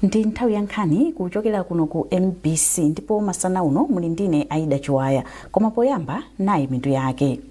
ndi nthawi ya nkhani kuchokera kuno ku mbc ndipo masana uno muli ndine aida chiwaya koma poyamba nayi mitu yake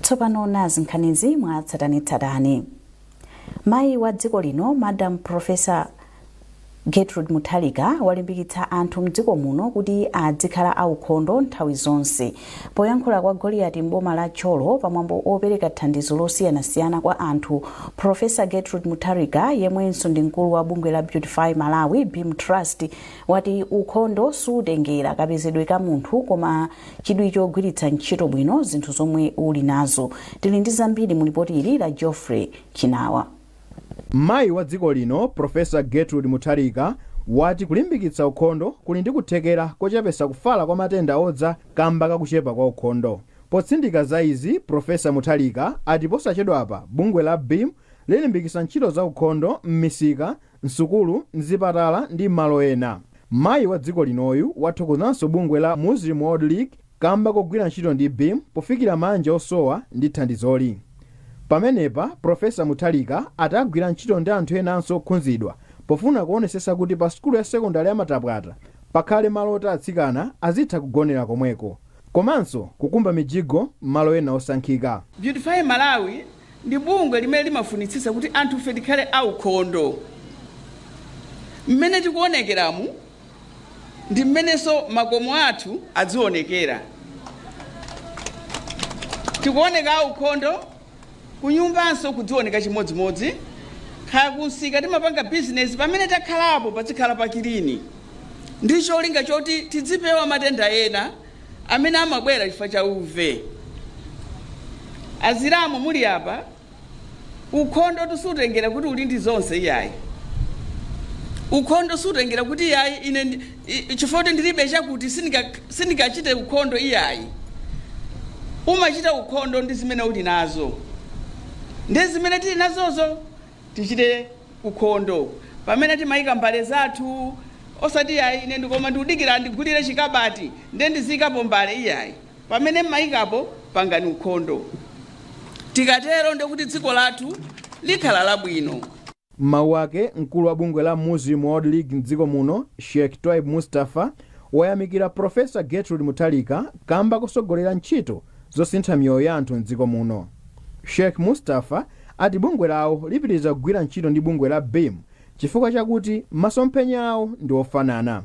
tsopano nazi nkhanizi mwa tsatanetsatane mayi wa dziko lino madam profesa gertrude mutharika walimbikitsa anthu mdziko muno kuti adzikhala aukhondo nthawi zonse poyankhula kwa goliyati m'boma la thyolo pamwambo opereka thandizo losiyanasiyana kwa anthu profesa gertrude mutharika yemwenso ndi mkulu wa bungwe la beautify malawi beam trust wati ukhondo sutengera kapezedwe ka munthu koma chidwi chogwiritsa ntchito bwino zinthu zomwe uli nazo. Tili ndi zambiri mu lipoti ili la Geoffrey Chinawa. Mayi wa dziko lino Professor Gertrude Mutharika wati kulimbikitsa ukhondo kuli ndi kuthekera kochepetsa kufala kwa matenda odza kamba ka kuchepa kwa ukhondo. Potsindika za izi Professor Mutharika ati posachedwapa bungwe la beam lilimbikitsa ntchito za ukhondo m'misika m'sukulu, m'zipatala ndi m'malo ena. Mayi wa dziko linoyu wathokozanso bungwe la Muslim World League kamba kogwira ntchito ndi beam pofikira manja osowa ndi thandizoli. Pamenepa Profesa Mutharika ati agwira ntchito ndi anthu enanso okhunzidwa pofuna kuonesesa kuti pa sukulu ya sekondale ya Matapwata pakhale malo oti atsikana azitha kugonera komweko. komanso kukumba mijigo m'malo ena osankhika. Beautify Malawi ndi bungwe limene limafunitsitsa kuti anthufe tikhale aukhondo. Mmene tikuonekeramu ndi mmenenso makomo athu adzionekera. Tikuoneka aukhondo Kunyumbanso kudzioneka chimodzimodzi. Kaya kumsika timapanga bizinezi, pamene takhalapo padzikhala pakilini ndi cholinga choti tidzipewa matenda ena amene amabwera chifukwa cha uve. Achilamu muli apa, ukhondotu sutengera kuti uli ndi zonse iyayi. Ukhondo sutengera kuti iyayi ine i- chifukwa kuti ndilibe chakuti sindinga- sindingachite ukhondo iyayi umachita ukhondo ndi zimene uli nazo ndi zimene tili nazozo tichite ukhondo pamene timayika mbale zathu osati iyayi ine koma ndikudikira ndigulire chikabati ndiye ndiziyikapo mbale iyayi pamene mmayikapo pangani ukhondo tikatero ndikuti dziko lathu likhala labwino M'mawu ake, mkulu wa bungwe la Muslim World League m'dziko muno Sheikh Twaib Mustafa wayamikira Professor Gertrude Mutharika kamba kosogolera ntchito zosintha miyoyo ya anthu m'dziko muno. Sheikh Mustafa ati bungwe lawo lipitiriza kugwira ntchito ndi bungwe la BEAM chifukwa chakuti masomphenya awo ndi ofanana.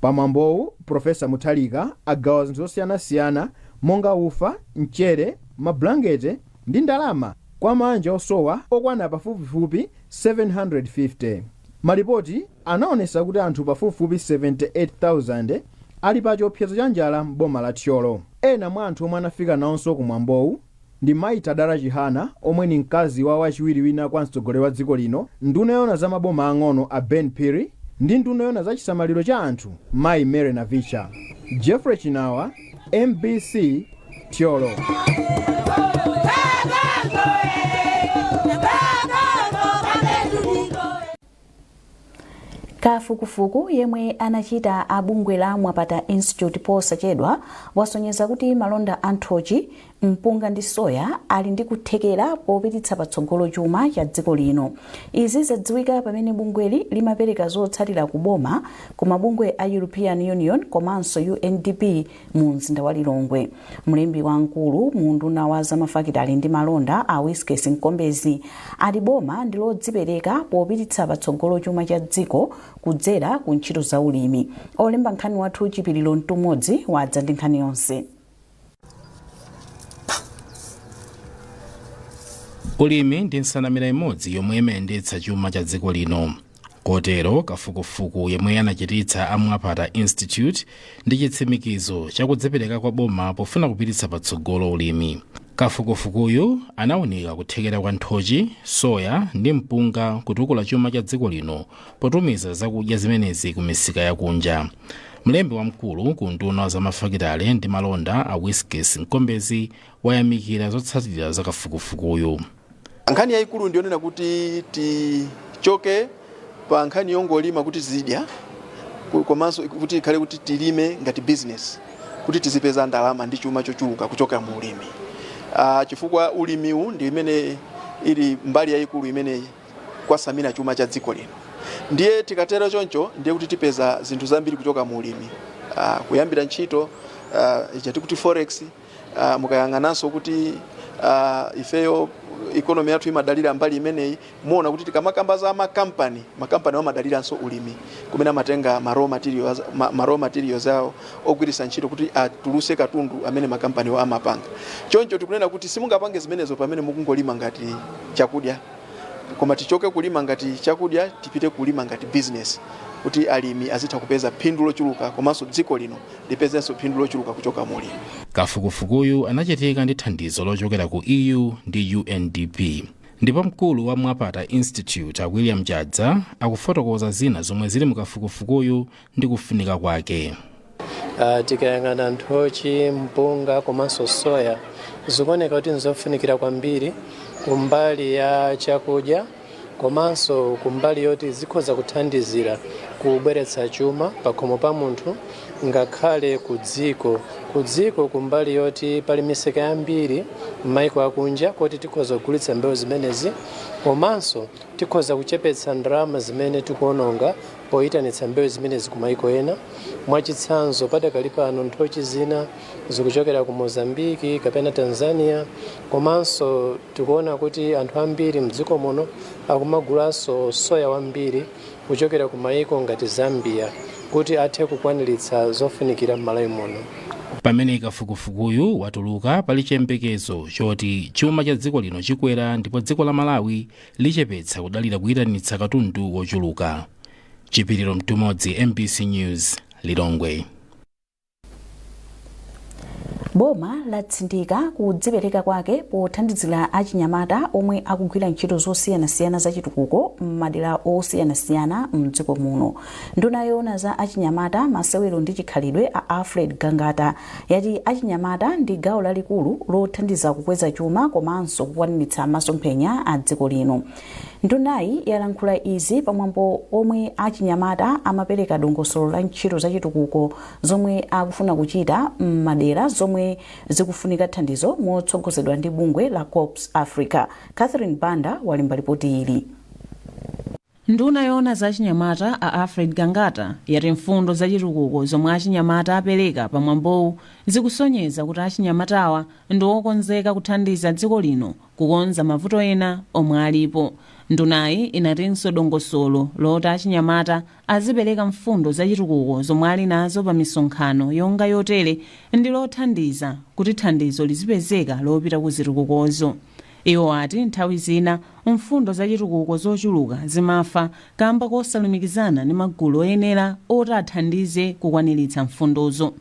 Pa mwambowu, Professor Mutharika agawa zinthu zosiyanasiyana monga ufa, mchere, mabulangete, ndi ndalama kwa maanja osowa okwana pafupifupi 750. Malipoti anaonesa kuti anthu pafupifupi 78,000 ali pa chiopsezo cha njala m'boma la Thyolo. Ena mwa anthu omwe anafika naonso ku mwambowu ndi Mayi Tadala Chihana omwe ni mkazi wa wachiwiri wina kwa mtsogoleri wa dziko lino, nduna yoona za maboma ang'ono a Ben Phiri ndi nduna yoona za chisamaliro cha anthu Mayi Mary Navicha. Jeffrey Chinawa. mbc Thyolo kafukufuku yemwe anachita a bungwe la mwapata institute posachedwa wasonyeza kuti malonda a nthochi Mpunga ndi soya ali ndi kuthekera popititsa patsogolo chuma cha dziko lino. Izi zadziwika pamene bungweli limapereka zotsatira ku boma ku mabungwe a European Union komanso UNDP mu mzinda wa Lilongwe. Mlembi wamkulu mu unduna wa za mafakitale ndi malonda a Wiskes Nkombezi ati boma ndi lodzipereka popititsa patsogolo chuma cha dziko kudzera ku ntchito za ulimi. Olemba nkhani wathu Chipiliro Mtumodzi wadza ndi nkhani yonse. ulimi ndi nsanamira imodzi yomwe imayendetsa chuma cha dziko lino kotero kafukufuku yemwe anachititsa a mwapata institute ndi chitsimikizo chakudzipereka kwa boma pofuna kupititsa patsogolo ulimi kafukufukuyu anawunika kuthekera kwa nthochi soya ndi mpunga kutukula chuma cha dziko lino potumiza zakudya zimenezi ku misika yakunja mlembi wamkulu ku unduna wa zamafakitale ndi malonda a Wiskes Nkombezi wayamikira zotsatira za kafukufukuyu nkhani yayikulu ndiyonena kuti tichoke pa nkhani yongolima kuti tizidya komanso kuti ikhale kuti tilime ngati business kuti tizipeza ndalama ndi chuma chochuluka kuchokera mu ulimi uh, chifukwa ulimiwu ndi imene ili mbali yayikulu imene kwatsamira chuma cha dziko lino. Ndiye tikatero choncho ndiye kuti tipeza zinthu zambiri kuchoka mu ulimi uh, kuyambira ntchito uh, ija timati forex uh, mukayang'ananso kuti uh, ifeyo economy yathu imadalira mbali imeneyi muona kuti tikamakamba za makampani makampani amadaliranso ulimi kumene amatenga ma raw materials, ma, ma raw materials awo ogwiritsa ntchito kuti atuluse katundu amene makampaniwo amapanga choncho tikunena kuti simungapange zimenezo pamene mukungolima ngati chakudya koma tichoke kulima ngati chakudya tipite kulima ngati business kuti alimi azitha kupeza phindu lochuluka komanso dziko lino lipezenso phindu lochuluka kuchoka mu ulimi Kafukufukuyu anachitika ndi thandizo lochokera ku EU ndi UNDP. Ndipo mkulu wa Mwapata Institute a William Chadza akufotokoza zina zomwe zili mu kafukufukuyu ndi kufunika kwake. Uh, tikayang'ana nthochi mpunga komanso soya zikuoneka kuti nzofunikira kwambiri kumbali ya chakudya komanso kumbali yoti zikhoza kuthandizira kubweretsa chuma pakhomo pa munthu ngakhale ku dziko ku dziko kumbali yoti pali misika yambiri m'maiko akunja koti tikhoza kugulitsa mbewu zimenezi komanso tikhoza kuchepetsa ndalama zimene tikuononga poyitanitsa mbewu zimenezi ku maiko ena. Mwachitsanzo, padakali pano nthochi zina zikuchokera ku Mozambique kapena Tanzania, komanso tikuona kuti anthu ambiri mdziko muno akumagulanso soya wambiri kuchokera ku maiko ngati Zambia kuti athe kukwaniritsa zofunikira m'Malawi muno. pamene kafukufukuyu watuluka pali chiyembekezo choti chuma cha dziko lino chikwera ndipo dziko la malawi lichepetsa kudalira kuyitanitsa katundu wochuluka. Chipiliro Mtumodzi, mbc News, Lilongwe. boma latsindika kudzipereka kwake pothandizira achinyamata omwe akugwira ntchito zosiyanasiyana za chitukuko m'madera osiyanasiyana mdziko muno nduna yoona za achinyamata masewero ndi chikhalidwe a alfred gangata yati achinyamata ndi gawo lalikulu lothandiza kukweza chuma komanso kukwaniritsa masomphenya a dziko lino. Ndunayi yalankhula izi pamwambo omwe achinyamata amapereka dongosolo la ntchito zachitukuko zomwe akufuna kuchita m'madera zomwe zikufunika thandizo motsogozedwa ndi bungwe la Corps Africa. Catherine Banda walemba lipoti ili. Nduna yoona za achinyamata, a Alfred Gangata, yati mfundo za chitukuko zomwe achinyamata apereka pa mwambowu zikusonyeza kuti achinyamatawa ndi okonzeka kuthandiza dziko lino kukonza mavuto ena omwe alipo. Ndunayi inatinso dongosolo loti achinyamata azipereka mfundo za chitukuko zomwe ali nazo pa misonkhano yonga yotere ndi lothandiza kuti thandizo lizipezeka lopita ku zitukukozo. Iwo ati nthawi zina mfundo za chitukuko zochuluka zimafa kamba kosalumikizana ndi magulu oyenera oti athandize kukwaniritsa mfundozo.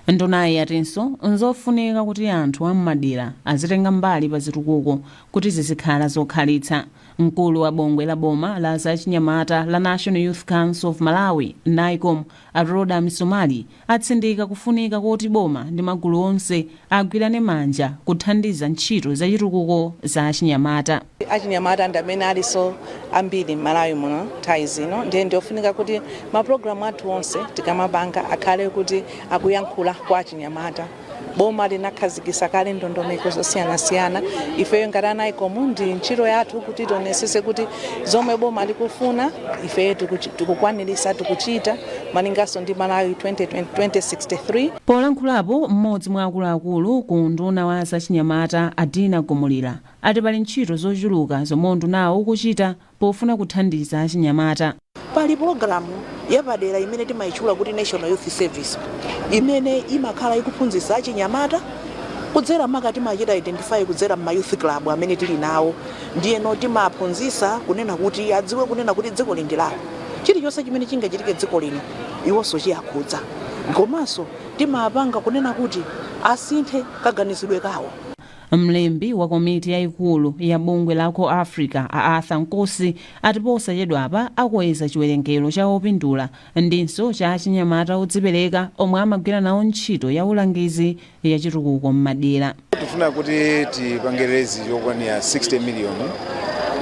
Ndunayi yatinso nzofunika kuti anthu a m'madera azitenga mbali pa zitukuko kuti zizikhala zokhalitsa. Mkulu wa bungwe la boma la za achinyamata la National Youth Council of Malawi, Nycom, a Rhoda Misomali, atsindika kufunika koti boma ndi magulu onse agwirane manja kuthandiza ntchito zachitukuko za achinyamata. Achinyamata ndi amene alinso ambiri m'Malawi muno nthawi zino ndiye ndiofunika kuti mapulogalamu athu onse tikamapanga akhale kuti akuyankhula kwa achinyamata. boma linakhazikisa kale ndondomeko zosiyanasiyana ifeyo ngati a nycom ndi ntchito yathu kuti tionesese kuti zomwe boma likufuna ifeyo tikukwanirisa tikuchita malinganso ndi malawi 2063 polankhulapo mmodzi mwa akuluakulu ku unduna wa zachinyamata a dina gumulira ati pali ntchito zochuluka zomwe undunawo ukuchita pofuna kuthandiza achinyamata. Pali pulogalamu yapadera imene timaitchula kuti National Youth Service imene imakhala ikuphunzitsa achinyamata kudzera maka timachita identify kudzera m'ma youth club amene tili nawo ndiyeno timaphunzitsa kunena kuti adziwe kunena kuti dzikoli ndi lawo, chilichonse chimene chingachitike dziko lino iwonso chiakhudza komanso timapanga kunena kuti asinthe kaganizidwe kawo. Mlembi wa komiti yaikulu ya bungwe la CorpsAfrica, a Arthur Nkosi, ati posachedwapa akweza chiwerengero cha opindula ndinso cha achinyamata odzipereka omwe amagwira nawo ntchito ya ulangizi ya chitukuko m'madera. Tifuna kuti tipange raise yokwanira 60 million,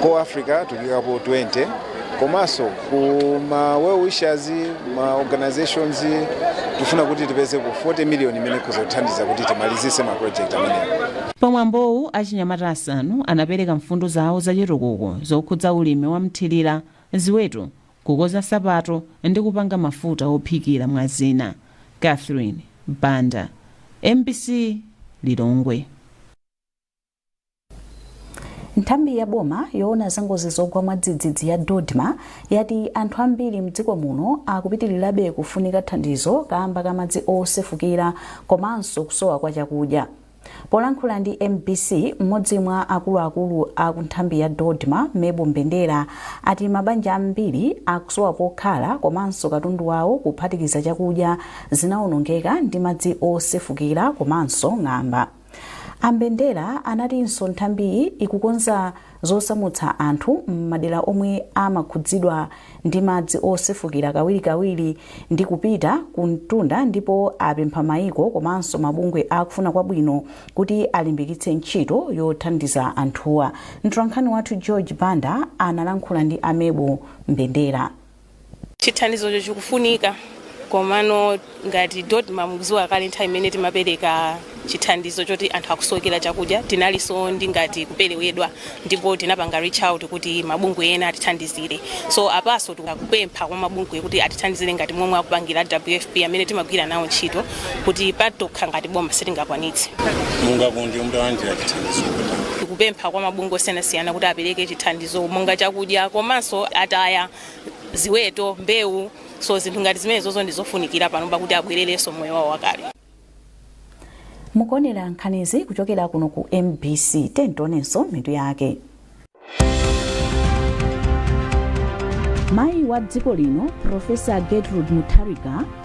CorpsAfrica tukuikapo 20. komanso ku ma well wishers ma organizations tifuna kuti tipeze ku 40 million imene ikhoza kuthandiza kuti timalizise ma project amenewa Pamwambowu achinyamata asanu anapereka mfundo zawo zachitukuko zokhudza ulimi wa mthilira, ziweto, kukonza nsapato ndi kupanga mafuta ophikira mwa zina. Catherine Banda, mbc, Lilongwe. nthambi ya boma yoona za ngozi zogwa mwadzidzidzi ya dodma yati anthu ambiri mdziko muno akupitirirabe kufunika thandizo kaamba ka madzi osefukira komanso kusowa kwa chakudya polankhula ndi mbc mmodzi mwa akuluakulu a ku nthambi ya dodma mable mbendera ati mabanja ambiri akusowa pokhala komanso katundu wawo kuphatikiza chakudya zinaonongeka ndi madzi osefukira komanso ng'amba A Mbendera anatinso nthambiyi ikukonza zosamutsa anthu m'madera omwe amakhudzidwa ndi madzi osefukira kawirikawiri ndi kupita ku mtunda ndipo apempha maiko komanso mabungwe akufuna kwabwino kuti alimbikitse ntchito yothandiza anthuwa. Mtolankhani wathu George Banda analankhula ndi a Mable Mbendera. Chithandizocho chikufunika komano ngati dodma mukuziwa kale nthawi imene timapereka chithandizo choti anthu akusowekera chakudya tinalinso ndi ngati kuperewedwa ndipo tinapanga reach out kuti mabungwe ena atithandizire so apaso tikupempha kwa mabungwe kuti atithandizire ngati momwe akupangira WFP amene timagwira nawo ntchito kuti patokha ngati boma sitingakwanitse Mungakonde mutalandira chithandizo tikupempha kwa mabungwe osiyanasiyana kuti apereke chithandizo zo monga chakudya komanso ataya ziweto, mbewu so zinthu ngati zimenezozo ndi zofunikira panopa kuti abwererenso moyo wawo wakale. mukuonera nkhanizi kuchokera kuno ku mbc tionenso mitu yake mayi wa dziko lino profesa gertrude mutharika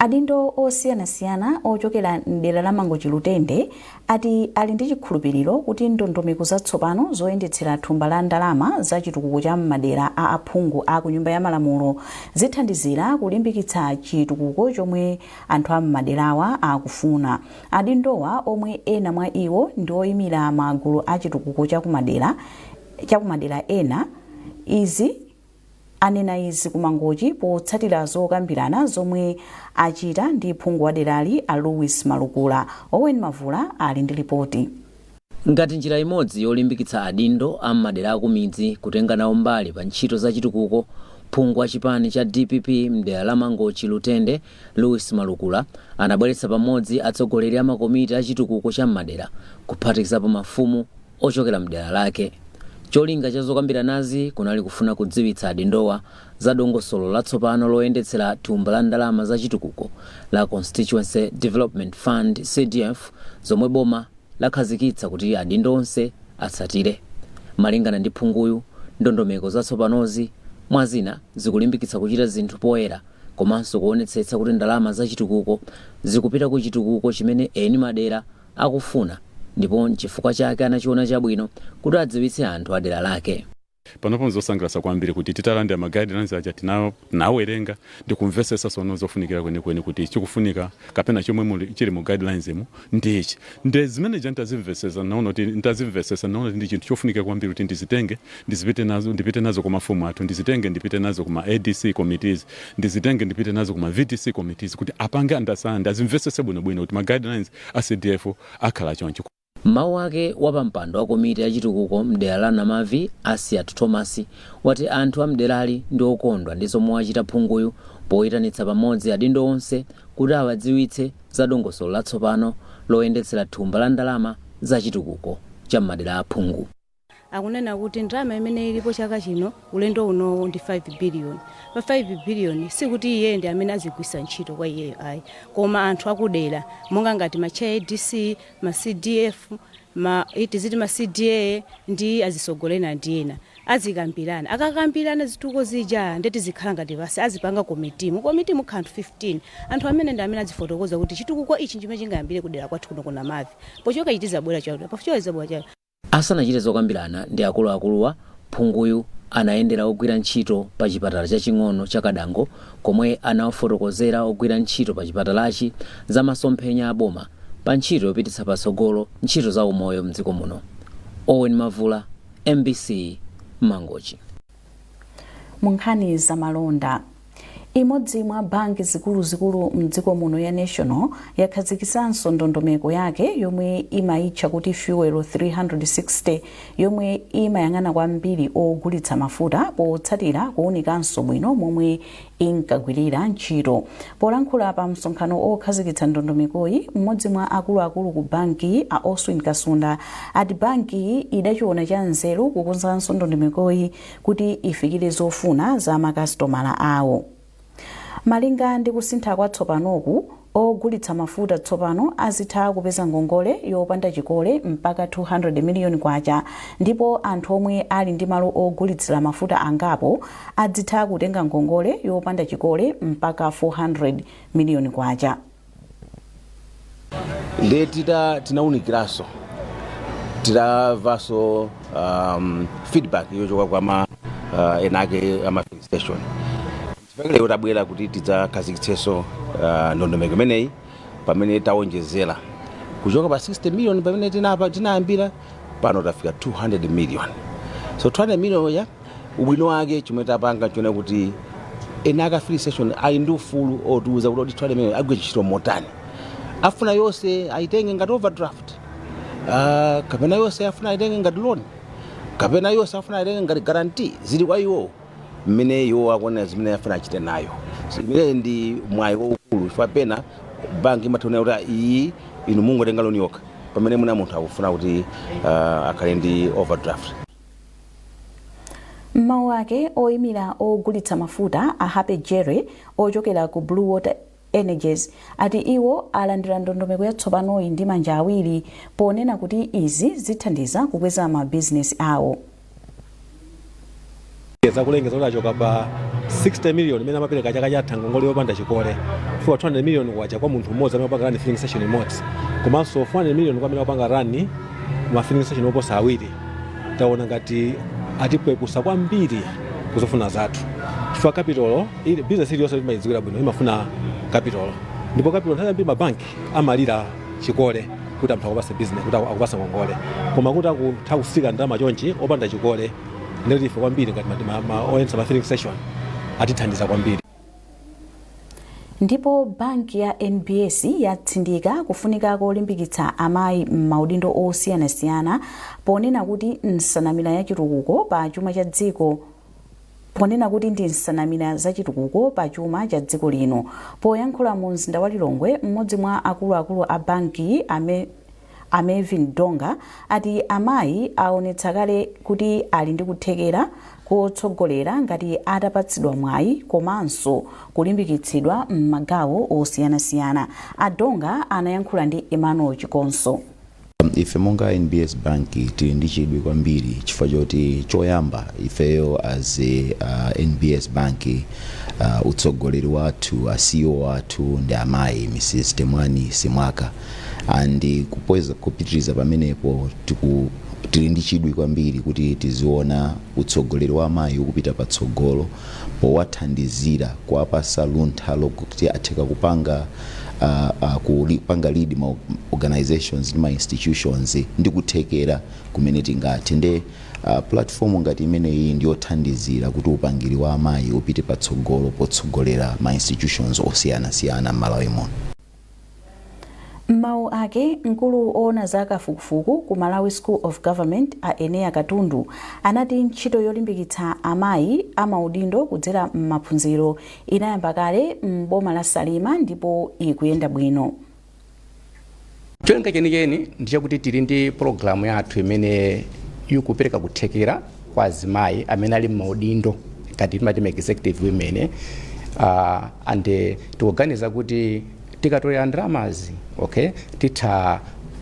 Adindo osiyanasiyana ochokera m'dera la Mangochi Lutende ati ali ndi chikhulupiliro kuti ndondomeko zatsopano zoyendetsera thumba la ndalama za chitukuko cha m'madera a aphungu a kunyumba ya malamulo zithandizira kulimbikitsa chitukuko chomwe anthu a m'maderawa akufuna. Adindowa omwe ena mwa iwo ndi oyimira magulu a chitukuko cha kumadera ena izi anena izi ku Mangochi potsatira zokambirana zomwe achita ndi phungu wa derali a Louis Malukula. Owen Mavula ali ndi lipoti. Ngati njira imodzi yolimbikitsa adindo a m'madera akumidzi kutenga nawo mbali pa ntchito za chitukuko, phungu wa chipani cha dpp m'dera la Mangochi Lutende, Louis Malukula anabweretsa pamodzi atsogoleri a makomiti a chitukuko cha m'madera kuphatikizapo mafumu, ochokera m'dera lake. Cholinga cha zokambiranazi kunali kufuna kudziwitsa adindowa za dongosolo latsopano loyendetsera thumba la ndalama za chitukuko la Constituency Development Fund, CDF, zomwe boma lakhazikitsa kuti adindo onse atsatire. Malingana ndi phunguyu, ndondomeko zatsopanozi mwa zina zikulimbikitsa kuchita zinthu poyera komanso kuonetsetsa kuti ndalama za chitukuko zikupita ku chitukuko chimene eni madera akufuna ndipo n'chifukwa chake anachiona chabwino kuti adziwitse anthu a dera lake. Panopo n'zosangalatsa kwambiri kuti titalandira ma guidelines aja tinawerenga ndi kumvetsetsa tsono zofunikira kwenikweni kuti chikufunika kapena chomwe chili mu guidelinesmo ndi ichi. Nde zimene zija nitazimvetsetsa ndinaona kuti nitazimvetsetsa ndinaona kuti ndi chinthu chofunikira kwambiri kuti ndizitenge ndizipi ndipite nazo ku mafumu athu, ndizitenge ndipite nazo ku ma adc committees. ndizitenge ndipite nazo ku ma VDC committees kuti apange understand, azimvesese bwino bwino kuti ma guidelines a CDF akhala chonchi. M'mawu ake wapampando wa komiti ya chitukuko m'dera la Namavi Asiyat Thomas wati anthu a m'derali ndi okondwa ndi zomwe wachita phunguyu poyitanitsa pamodzi adindo onse kuti awadziwitse za dongosolo latsopano loyendetsera thumba la ndalama za chitukuko cha m'madera a aphungu. Akunena kuti ndalama imene ilipo chaka chino ulendo unowu ndi 5 billion. Pa 5 billion sikuti iyeyo ndi amene azigwiritsa ntchito kwa iyeyo ayi koma anthu akudera monga ngati ma chair a ADC, ma CDF, ma tiziti ma CDA ndi azitsogoleri ena ndi ena azikambirana. Akakambirana zitukuko zija nde tizikhala ngati basi azipanga committee. Mu committee mukhala anthu 15. Anthu amene ndi amene adzifotokoza kuti chitukuko ichi nchimene chingayambire kudera kwathu kuno ku Namavi. Pochoka ichi tizabwera chakuti, pochoka tizabwera chakuti. Asanachite zokambirana ndi akuluakuluwa, phunguyu anayendera ogwira ntchito pa chipatala chaching'ono cha Kadango komwe anawafotokozera ogwira ntchito pa chipatalachi za masomphenya a boma pa ntchito yopititsa patsogolo ntchito za umoyo m'dziko muno. Owen Mavula, mbc, Mangochi. Munkhani za malonda. Imodzi mwa banki zikuluzikulu mdziko muno ya National yakhazikitsanso ndondomeko yake yomwe imayitcha kuti Fuel 360 yomwe imayang'ana kwambiri ogulitsa mafuta potsatira kuwunikanso bwino momwe inkagwirira ntchito. Polankhula pa msonkhano okhazikitsa ndondomekoyi, m'modzi mwa akuluakulu ku bankiyi a Oswin Kasunda ati bankiyi idachiona cha nzeru kukonzanso ndondomekoyi kuti ifikire zofuna za makasitomala awo. Malinga ndi kusintha kwa tsopanoku, Ogulitsa mafuta tsopano azitha kupeza ngongole yopanda chikole mpaka K200 miliyoni ndipo anthu omwe ali ndi malo ogulitsira mafuta angapo adzitha kutenga ngongole yopanda chikole mpaka K400 miliyoni. Ndiye tita tinaunikiranso titamvanso um, feedback yochoka kwa ma uh, eni ake a ma filling station Chifukwa chake lero tabwera kuti tidzakhazikitsenso ah, ndondomeko imeneyi pamene tawonjezera kuchoka pa 60 million pamene tinapa- tinayambira pano tafika 200 million so 200 million yo ubwino wake chomwe tapanga chone kuti eni ake a filling station ali ndi ufulu otiuza kuti kodi 200 million igwire ntchito motani afuna yonse ayitenge ngati overdraft Ah, kapena yonse afuna ayitenge ngati loan kapena yonse afuna ayitenge ngati guarantee zili kwa iwowo mmene iwo akuonera zimene afuna achite nayo imeneyi ndi mwayi waukulu chifukwa pena banki imatha kunena kuti "Ah, iyi inu mungotenga loni yokha pamene mwina munthu akufuna kuti ah, akhale ndi overdraft M'mawu ake, oyimira ogulitsa mafuta a Happy Jere ochokera ku Blue Water Energies, ati iwo alandira ndondomeko yatsopanoyi ndi manja awiri ponena kuti izi zithandiza kukweza ma bizinesi awo. za kulengeza kuti achoka pa 60 million imene amapereka chaka chatha ngongole yopanda chikole kufika 200 million kwacha kwa munthu mmodzi amene akupanga rani filling station imodzi komanso 400 million kwa amene akupanga rani ma filling station oposa awiri taona ngati atipepusa kwambiri kuzofuna zathu chifukwa kapitolo Ili business iliyonse timaidziwira bwino imafuna capital ndipo capital nthawi yambiri mabanki amalira chikole kuti anthu akupatse business kuti aku- akupatse ngongole koma kuti akutha kutsika ndalama chonchi opanda chikole nde ife kwambiri ngati ma- ma- ma- oyendetsa ma filling station atithandiza kwambiri ndipo banki ya nbs yatsindika kufunika kolimbikitsa amayi m'maudindo osiyanasiyana ponena kuti nsanamira ya chitukuko pa chuma cha dziko ponena kuti ndi nsanamira za chitukuko pa chuma cha dziko lino. Poyankhula mu mzinda wa Lilongwe, m'modzi mwa akuluakulu a banki a Mervin Donga ati amayi aonetsa kale kuti ali ndi kuthekera kotsogolera ngati atapatsidwa mwayi komanso kulimbikitsidwa m'magawo osiyanasiyana. A Donga anayankhula ndi Emmanuel Chikonso. Ife monga NBS bank tili ndi chidwi kwambiri chifukwa choti choyamba ifeyo as a NBS bank utsogoleri wathu a CEO wathu ndi amayi Mrs Temwani Simwaka and kupitiliza pamenepo tili ndi chidwi kwambiri kuti tiziona utsogoleri wa amayi ukupita patsogolo powathandizira kuwapasa luntha lokti atheka kupanga kupanga lead ma organisations ndi ma institutions ndi kuthekera kumene tingathe nde platform ngati imene iyi ndiyothandizira kuti upangiri wa amayi upite patsogolo potsogolera ma institutions osiyana siyana mmalawi muno. M'mawu ake, mkulu owona za kafukufuku ku Malawi School of Government a Eneya Katundu anati ntchito yolimbikitsa amayi amaudindo kudzera m'maphunziro inayamba kale m'boma la Salima ndipo ikuyenda bwino. Cholinga chenicheni ndi chakuti tili ndi pologalamu yathu imene ikupereka kuthekera. kwa azimayi amene ali m'maudindo ngati timati ma executive women eh, ah, and eh, tikuganiza kuti tikatolera ndalamazi okay titha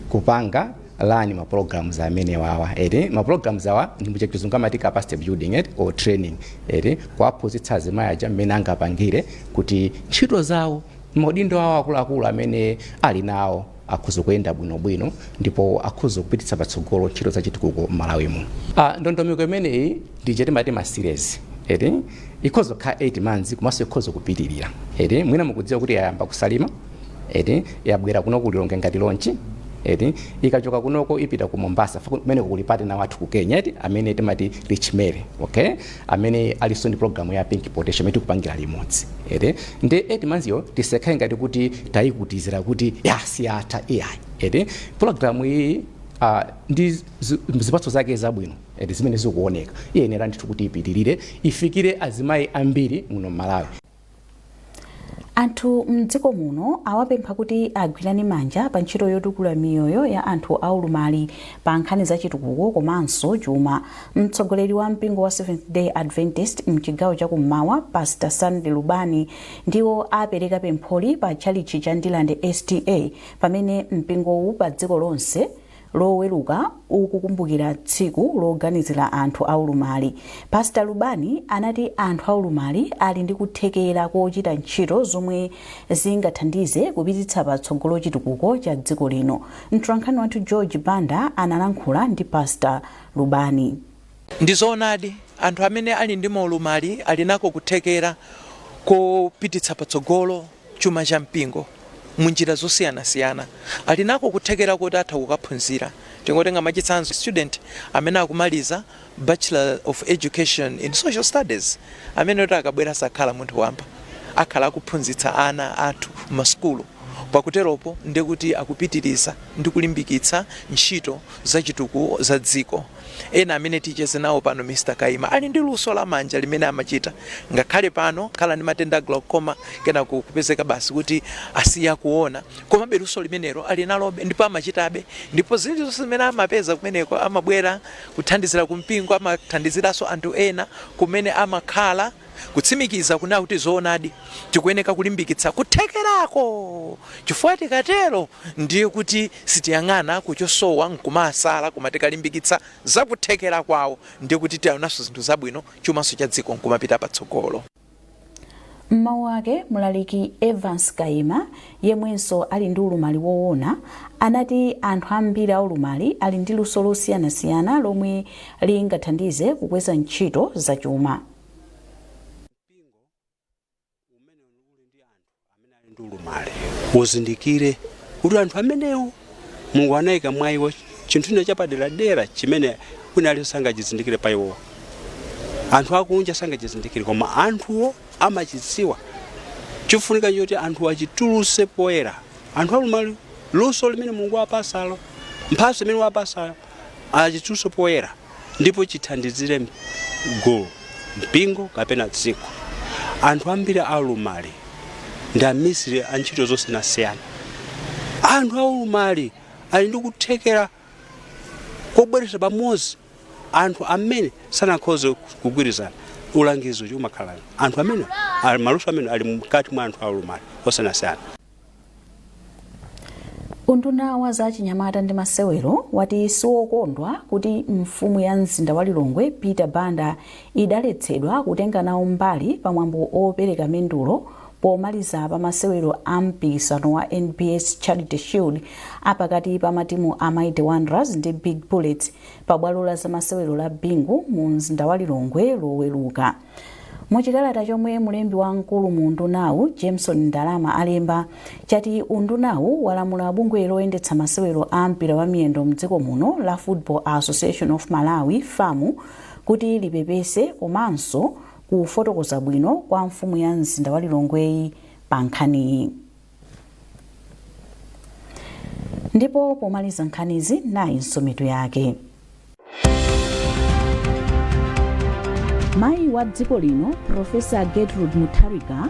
kupanga rani ma programs amene wawa ere ma programs awa ndi mu Chizungu amati capacity building ere or training ere kuwaphunzitsa azimayi aja mmene angapangire kuti ntchito zawo m'maudindo awo akuluakulu amene ali nawo akhoza kuyenda bwinobwino ndipo akhoza kupititsa patsogolo ntchito za chitukuko m'Malawi muno. Ah, ndondomeko imeneyi ndiye timati ma series eti ikhoza kukhala 8 months komanso ikhoza kupitirira eti mwina mukudziwa kuti yayamba ku Salima eti yabwera kuno ku Lilongwe ngati launch eti ikachoka kunoko ipita ku Mombasa fa- kumeneko kuli partner wathu ku Kenya eti amene timati Rich Mary okay amene alinso ndi program ya pink potential imene tikupangira limodzi ee nde 8 months yo tisakhale ngati kuti tayikutizira kuti basi yatha iyayi ee program iyi uh, ndi zi- zipatso zake zabwino ee zimene zikuoneka iyenera ndithu kuti ipitirire ifikire azimayi ambiri muno m'Malawi Anthu m'dziko muno awapempha kuti agwirane manja pa ntchito yotukula miyoyo ya anthu aulumali pa nkhani za chitukuko komanso chuma. Mtsogoleri wa mpingo wa Seventh Day Adventist m'chigawo cha kummawa Pastor Sunday Lubani ndiwo apereka pempholi pa tchalitchi cha Ndirande SDA pamene mpingowu pa dziko lonse Loweruka ukukumbukira tsiku loganizira anthu aulumali, Pastor Lubani anati anthu aulumali ali ndi kuthekera kochita ntchito zomwe zingathandize kupititsa patsogolo chitukuko cha dziko lino. Mtolankhani wathu George Banda analankhula ndi Pastor Lubani. Ndi zoonadi, anthu amene ali ndi maulumali ali nako kuthekera kopititsa patsogolo chuma cha mpingo mu njira zosiyanasiyana. Ali nako kuthekera koti atha kukaphunzira. Tingotenga mwachitsanzo student amene akumaliza Bachelor of Education in Social Studies amene kuti akabwera sakhala munthu wamba. Akhala akuphunzitsa ana athu m'masukulu. Pakuteropo ndiye kuti akupitiriza ndi kulimbikitsa ntchito za chitukuko za dziko. Ena amene ticheze nawo pano Mr Kaima ali ndi luso la manja limene amachita ngakhale pano akhala ndi matenda a glaucoma kenako kupezeka basi kuti asiya kuona komabe luso limenelo ali nalobe ndipo amachitabe ndipo zilizonse zimene amapeza kumeneko amabwera kuthandizira kumpingo amathandiziranso anthu ena kumene amakhala Kutsimikiza kunena kuti zoonadi tikuyeneka kulimbikitsa kuthekerako chifukwa tikatero ndiye kuti sitiyang'ana ku chosowa nkumawasala koma tikalimbikitsa za kuthekera kwawo ndiye kuti tiaonanso zinthu zabwino chumanso cha dziko nkumapita patsogolo. M'mawu ake, Mlaliki Evance Kaima, yemwenso ali ndi ulumali woona, anati anthu ambiri aulumali ali ndi luso losiyanasiyana lomwe lingathandize kukweza ntchito zachuma. Mpingo umene uli ndi anthu amene ali ndi ulumali uzindikire kuti anthu amenewo Mulungu anayika mwa iwo chinthu china chapaderadera chimene wina aliyense sangachizindikire pa iwowo anthu akunja sangachizindikire koma anthuwo amachidziwa chofunika choti anthu achituluse poyera anthu aulumali luso limene mulungu wapasalo mphatso imene wapasalo achituluse poyera ndipo chithandizire m- gulu mpingo kapena dziko anthu ambiri aulumali ndi amisiri a ntchito zosiyanasiyana anthu aulumali ali ndi kuthekera kobweretsa pamodzi anthu amene sanakhoze kugwirizana ulangizi uchi umakhala anthu amene ali- maluso amene ali mkati mwa anthu aulumali osiyanasiyana unduna wa za chinyamata ndi masewero wati siwokondwa kuti mfumu ya mzinda wa lilongwe peter banda idaletsedwa kutenga nawo mbali pa mwambo opereka mendulo Pomaliza pa masewero a mpikisano wa NBS Charity Shield a pakati pa matimu a Mighty Wanderers ndi Big Bullets pa bwalo la zamasewero la Bingu mu mzinda wa Lilongwe loweruka. Mu chikalata chomwe mlembi wamkulu mu undunawu Jameson Ndalama alemba chati undunawu walamula bungwe loyendetsa masewero a mpira wa miyendo mdziko muno la Football Association of Malawi FAMU kuti lipepese komanso kufotokoza bwino kwa mfumu ya mzinda wa Lilongweyi pa nkhaniyi. Ndipo pomaliza nkhanizi nayinso mitu yake. Mayi wa dziko lino Profesa Gertrude Mutharika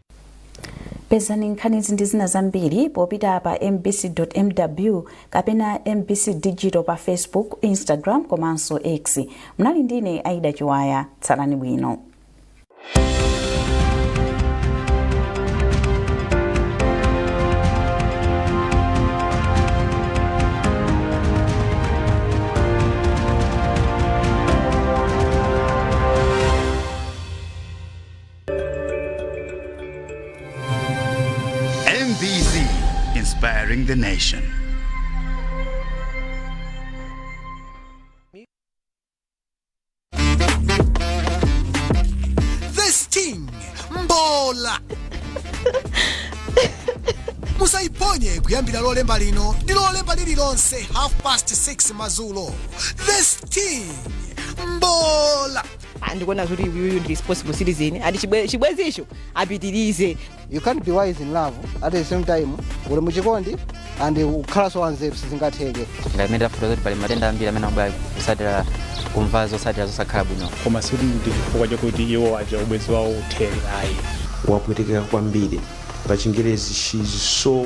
pezani nkhanizi ndi zina zambiri popita pa mbc.mw kapena mbc digital pa facebook instagram komanso x munali ndine aida chiwaya tsalani bwino mbc inspiring the nation The Sting Mbola musaiphonye kuyambira lolemba lino ndi lolemba lililonse half past 6 madzulo The Sting Mbola Ah, ndikuona kuti uyuyu ndi responsible citizen ati chibwe- chibwezicho apitirize you can't be wise in love at the same time uli muchikondi and ukhalanso wanzeru sizingatheke ndamene tafunsa kuti pali matenda ambiri amene akubwera kutsatira kumva zotsatira zosakhala bwino koma sikuti ndi chifukwa chakuti iwo aja ubwenzi wawo uthere ayi wapwetekeka kwambiri pa chingerezi she is so